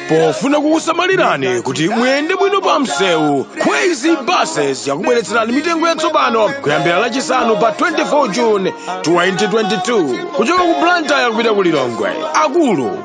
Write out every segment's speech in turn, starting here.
pofuna kukusamalirani kuti muyende bwino pa msewu crazy buses yakubweretserani mitengo yatsopano kuyambira lachisanu pa 24 june 2022 kuchoka ku blantyre kupita ku lilongwe akulu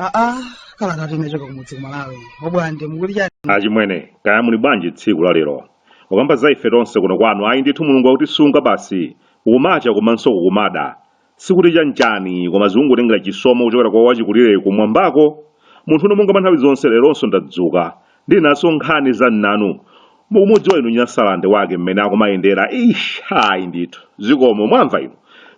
aa kala tati nachoka kumudzi kumalawi obwande mukuti chani achimwene kaya muli bwanji tsiku la lero ukamba za ife tonse kuno kwanu ayi ndithu mulungu akutisunga basi kukumacha komanso kukumada Sikuti chanchani, koma zikungotengera chisomo kuchokera kwa wachikulire kumwambako. Munthune monga mwa nthawi zonse leronso ndadzuka ndili nazo nkhani za m'nanu. Mukumudziwa inu Nyasalande wake mmene akumayendera. Eish! Ayi ndithu. Zikomo. Mwamva inu?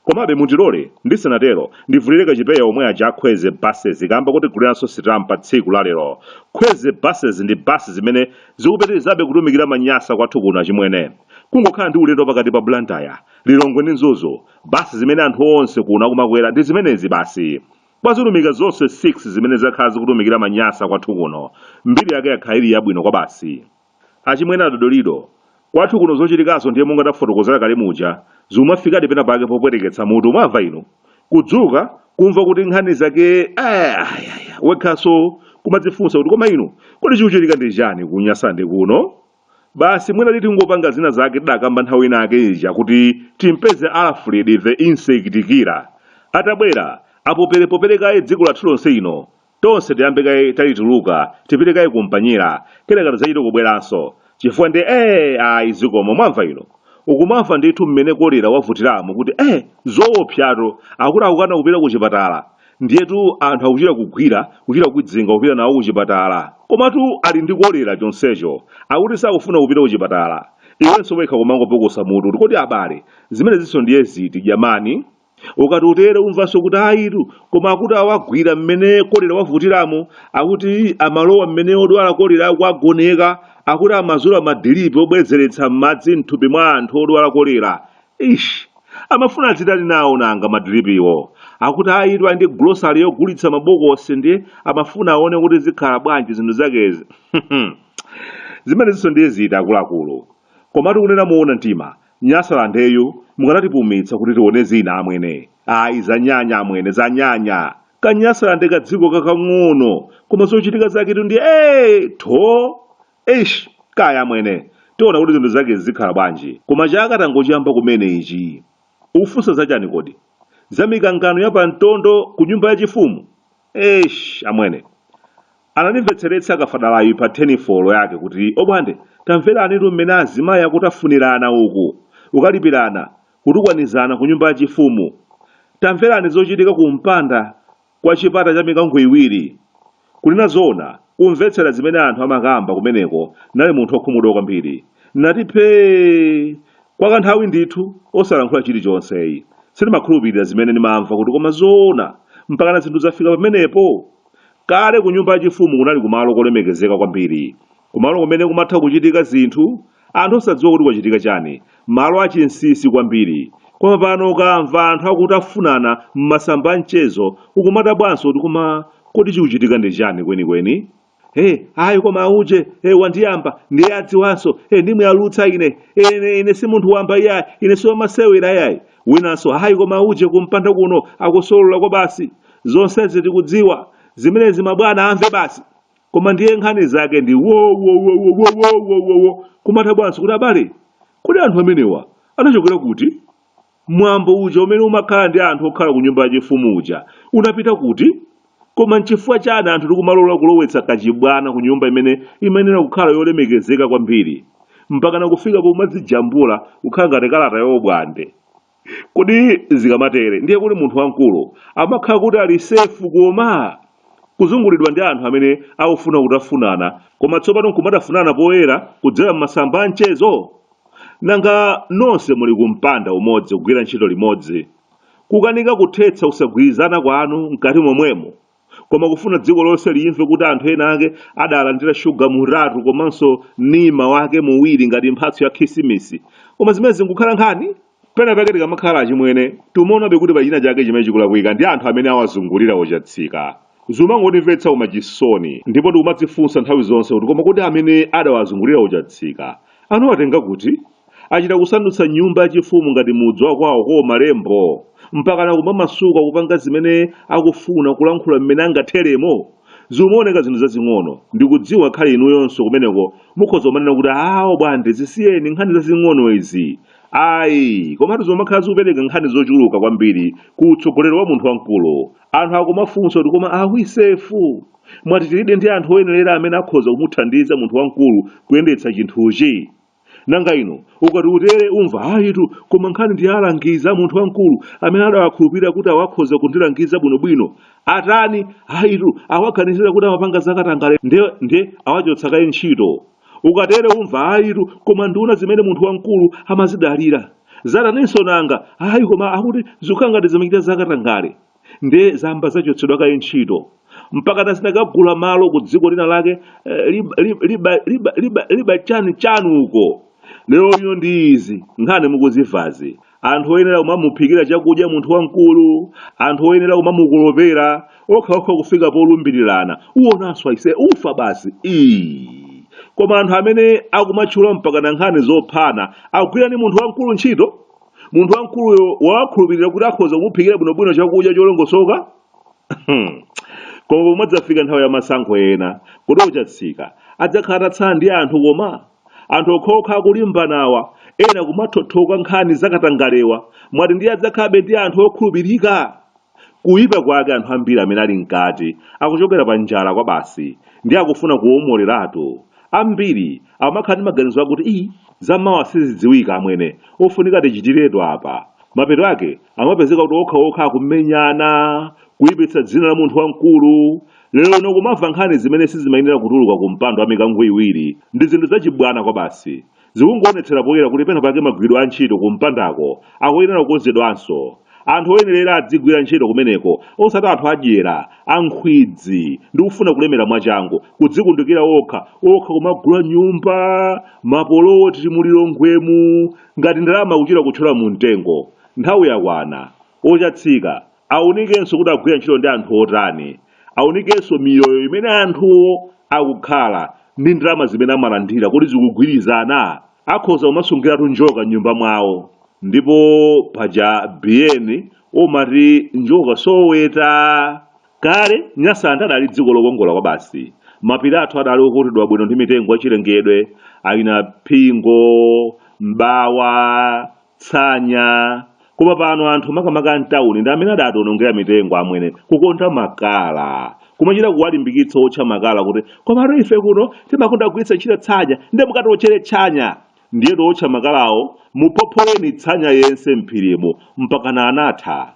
Komabe mutilole, ndisanatero, ndivulire kachipeya omwe aja a Crazy Buses kaamba kotiguliranso sitampa tsiku la lero. Crazy Buses ndi basi zimene zikupitirizabe kutumikira Manyasa kwathu kuno achimwene. Kungokhala ndi ulendo wa pakati pa Blantyre, Lilongwe ndi Mzuzu Basi zimene anthu onse kuno akumakwera ndi zimenezi basi. Kwa zilumika zonse 6 zimene zakhala zikutumikira manyasa kwathu kuno, mbiri yake yakhala ili yabwino kwabasi. Achimwene a Dodolido, kwathu kuno zochitikazo ndiye monga tafotokozera kale muja, zimafikadi pena pake popweteketsa mutu, mwamva inu? Kudzuka, kumva kuti nkhani zake, ayayaya, wekhanso kumadzifunsa kuti koma inu, kodi chikuchitika ndi chani ku Nyasande kuno? Basi mwina titi tingopanga zina zake tidakamba nthawi ina yake ija kuti timpeze Alfred the insect killer. Atabwera, apopelepopele kaye dziko lathuli lonse lino. Tonse tiyambe kaye talituluka, tipite kaye kumpanyera, kenaka tidzachite kubweranso. Chifukwa ndiye ee ayi zikomo mwamva inu. Ukumamva ndithu mmene kolera wavutiramu kuti ee zoopsatu akuti akukana kupita kuchipatala. Ndiyetu anthu akuchita kugwira, kuchita kukwidzinga kupita nawo kuchipatala. Komatu ali ndi kolera chonsecho akuti sakufuna kupita kuchipatala. Iwenso wekha kumangopukusa mutu kuti kodi abale, zimenezinso ndiye ziti, jamani? Ukati utere umvanso kuti ayitu, koma akuti awagwira mmene kolera wavutiramu, akuti amalowa m'mene odwala kolera akuwagoneka, akuti amazula madiripi obwezeretsa madzi m'thupi mwa anthu odwala kolera. Eish! Amafuna adzitani nawo nanga madiripiwo? Akuti ayitu ali ndi grocery yogulitsa mabokosi ndiye amafuna aone kuti zikhala bwanji zinthu zakezi. Zimenezinso ndiye ziti akuluakulu? Komatu kunena moona mtima, Nyasalandeyu mukanatipumitsa kuti tione zina amwene. Ayi zanyanya amwene, zanyanya! Ka Nyasalande kadziko kakang'ono koma zochitika zaketu ndiye ee! Tho! Eish, kaya amwene. Tiona kuti zinthu zake zikhala bwanji. Koma chaka tangochiyamba kumene ichi. Ufunsa za chani kodi? Za mikangano ya pa mtondo ku nyumba ya chifumu? Eish, amwene. Anandimvetseretsa kafadalayu pa thenifolo yake kuti, Obwande, tamveranitu mmene azimayi akutafunirana uku, kukalipirana, kutukwanizana ku nyumba ya chifumu. Tamverani zochitika ku mpanda kwa chipata cha mikango iwiri. Kunena zoona, kumvetsera zimene anthu amakamba kumeneko n'nali munthu wokhumudwa kwambiri. N'nati phee! Kwa kanthawi ndithu, osalankhula chilichonse. Sindimakhulupirira zimene ndimamva kuti koma zoona, mpakana zinthu zafika pamenepo? Kale kunyumba yachifumu kunali kumalo kolemekezeka kwambiri. Kumalo kumene kumatha kuchitika zinthu, anthu osadziwa kuti kwachitika chani, malo a chinsisi kwambiri. Koma pano ukamva anthu akutafunana m'masamba a mchezo ukumadabwanso kuti koma kodi chikuchitika ndi chani kwenikweni? Hey, ayi koma auje, hey, wandiyamba, ndiye adziwanso, hey, ndimuyalutsa ine, hey, ine, ine si munthu wamba iyayi, ine si wamasewera iyayi. Winanso, ayi koma auje kumpanda kuno akusolola kwabasi. Zonsezi tikudziwa, zimenezi mabwana amve basi. koma ndiye nkhani zake ndi wowowowowowowowo kumadabwanso kuti abale kodi anthu amenewa anachokera kuti mwambo uja umene umakhala ndi anthu okhala ku nyumba yachifumu uja unapita kuti koma nchifukwa chani anthu tikumalola kulowetsa kachibwana ku nyumba imene imayenera kukhala yolemekezeka kwambiri mpakana kufika pomadzijambula kukhala ngati kalata yobwande Kodi zikamatere ndiye kuti munthu wamkulu amakhala kuti ali sefu koma? Kuzungulidwa ndi anthu amene akufuna kutafunana koma tsopano nkumatafunana poyera kudzera m'masamba a mchezo? Nanga nonse muli ku mpanda umodzi kugwira ntchito limodzi, kukanika kuthetsa kusagwirizana kwanu mkati momwemo? koma kufuna dziko lonse limve kuti anthu ena ake adalandira shuga mutatu komanso nima wake muwiri ngati mphatso ya khisimisi koma zimenezi nkukhala nkhani pena pake tikamakhala achimwene timaonabe kuti pachina chake chimene chikulakwika ndi anthu amene awazungulira ochatsika zimangotimvetsa koma chisoni ndipo tikumadzifunsa nthawi zonse kuti koma kodi amene adawazungulira ochatsika anawatenga kuti achita kusandutsa nyumba yachifumu ngati mudzi wa kwawo kwa malembo mpakana kumamasuka kupanga zimene akufuna kulankhula mmene angatheremo zimaoneka zinthu zazing'ono ndikudziwa khale inuyonso kumeneko mukhoza kumanena kuti aa obwande zisiyeni nkhani zazing'ono izi ayi komatu zomakhala zikupereka nkhani zochuluka kwambiri ku utsogoleri wa munthu wamkulu anthu akumafunsa kuti koma awisefu mwati tilidi ndi anthu oyenerera amene akhoza kumuthandiza munthu wamkulu kuyendetsa chinthuchi nanga ino ukati utere umva ayitu koma nkhani ndi alangizi a munthu wamkulu amene adawakhulupirira kuti awakhoza kundilangiza bwinobwino atani ayitu awaganizira kuti amapanga zakatangale nde ndiye awachotsa kaye ntchito ukatere umva ayitu koma nduna zimene munthu wamkulu amazidalira zataninso nanga ayi koma akuti zikukhala ngati zimachita zakatangale ndiye zayamba zachotsedwa kaye ntchito mpakana zinakagula malo ku dziko lina lake liba chani uko lero ino ndi izi nkhani mukuzimvazi anthu oyenera kumamuphikira chakudya munthu wamkulu anthu oyenera kumamukolopera okhaokha kufika polumbirirana uwonanso aise ufa basi ii koma anthu amene akumatchula mpakana nkhani zophana akugwira ndi munthu wamkulu ntchito munthu wamkuluyo wawakhulupirira kuti akhoza kumuphikira bwinobwino chakudya cholongosoka koma pomwe adzafika nthawi ya masankho ena kodi ochatsika adzakhala atatsala ndi anthu koma anthu okhaokha akulimbanawa ena kumathothoka nkhani zakatangalewa mwati ndiye adzakhalabe ndi anthu okhulupirika Kuipa kwake anthu ambiri amene ali mkati akuchokera pa njala kwabasi ndiye akufuna kuwomoleratu. Ambiri akumakhala ndi maganizo akuti ii za mawa sizidziwika amwene ofunika tichitiretu apa. Mapeto ake akumapezeka kuti okhaokha akumenyana, kuipitsa dzina la munthu wamkulu. Lero ino kumamva nkhani zimene sizimayenera kutuluka ku mpando wa mikango iwiri. Ndi zinthu zachibwana kwabasi. Zikungoonetsera poyera kuti pena pake magwiridwe a ntchito ku mpandako akuyenera kukonzedwanso. Anthu oyenerera adzigwira ntchito kumeneko osati anthu adyera, a nkhwidzi ndi kufuna kulemera mwachangu, kudzikundikira okha okha kumagula nyumba, mapoloti mu Lilongwemu ngati ndalama akuchita kutchola mu mtengo. Nthawi yakwana. Ochatsika Aunikenso kuti akugwira ntchito ndi anthu otani. Aunikenso miyoyo imene anthuwo akukhala ndi ndalama zimene amalandira kodi zikugwirizana. Akhoza kumasungiratu njoka m'nyumba mwawo. Ndipo paja Biyeni omati njoka soweta. Kale, Nyasaland adali dziko lokongola kwabasi. Mapiri athu adali okutidwa bwino ndi mitengo yachilengedwe, a naphingo, m'bawa, tsanya koma pano anthu makamaka amtawuni ndi amene adationongera mitengo amwene kukonda makala kumachita kuwalimbikitsa otcha makala kuti komatu ife kuno timakonda kugwiritsa ntchito tsanya ndiye mukatiotchere tsanya ndiye otcha makalawo muphopholeni tsanya yense mphirimo mpakana anatha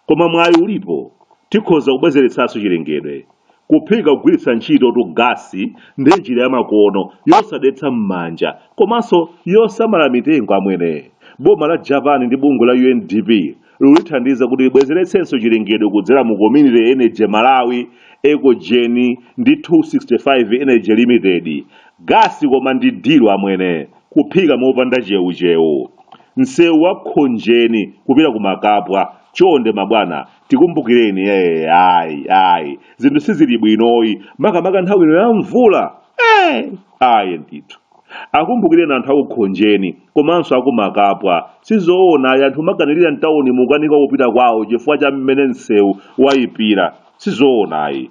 Koma mwayi ulipo, tikhoza kubwezeretsanso chilengedwe. Kuphika kugwiritsa ntchitotu gasi ndi njira yamakono yosadetsa m'manja komanso yosamala mitengo amwene. Boma la Japan ndi bungwe la UNDP likulithandiza kuti libwezeretsenso chilengedwe kudzera mu Community Energy Malawi, Ecogen ndi 265 Energy Limited. Gasi koma ndi dilo amwene. Kuphika mopanda cheucheu. Msewu wa Khonjeni kupita ku Makapwa chonde mabwana tikumbukireni ee ayi ayi zinthu sizili bwinoyi makamaka nthawi ino ya mvula ee ayi ndithu. Akumbukireni anthu a ku Khonjeni komanso a ku Makapwa. Sizoona ayi anthu kumakanirira m'taunimu kukanika kupita kwawo chifukwa cha mmene nsewu waipira. Sizoona ayi.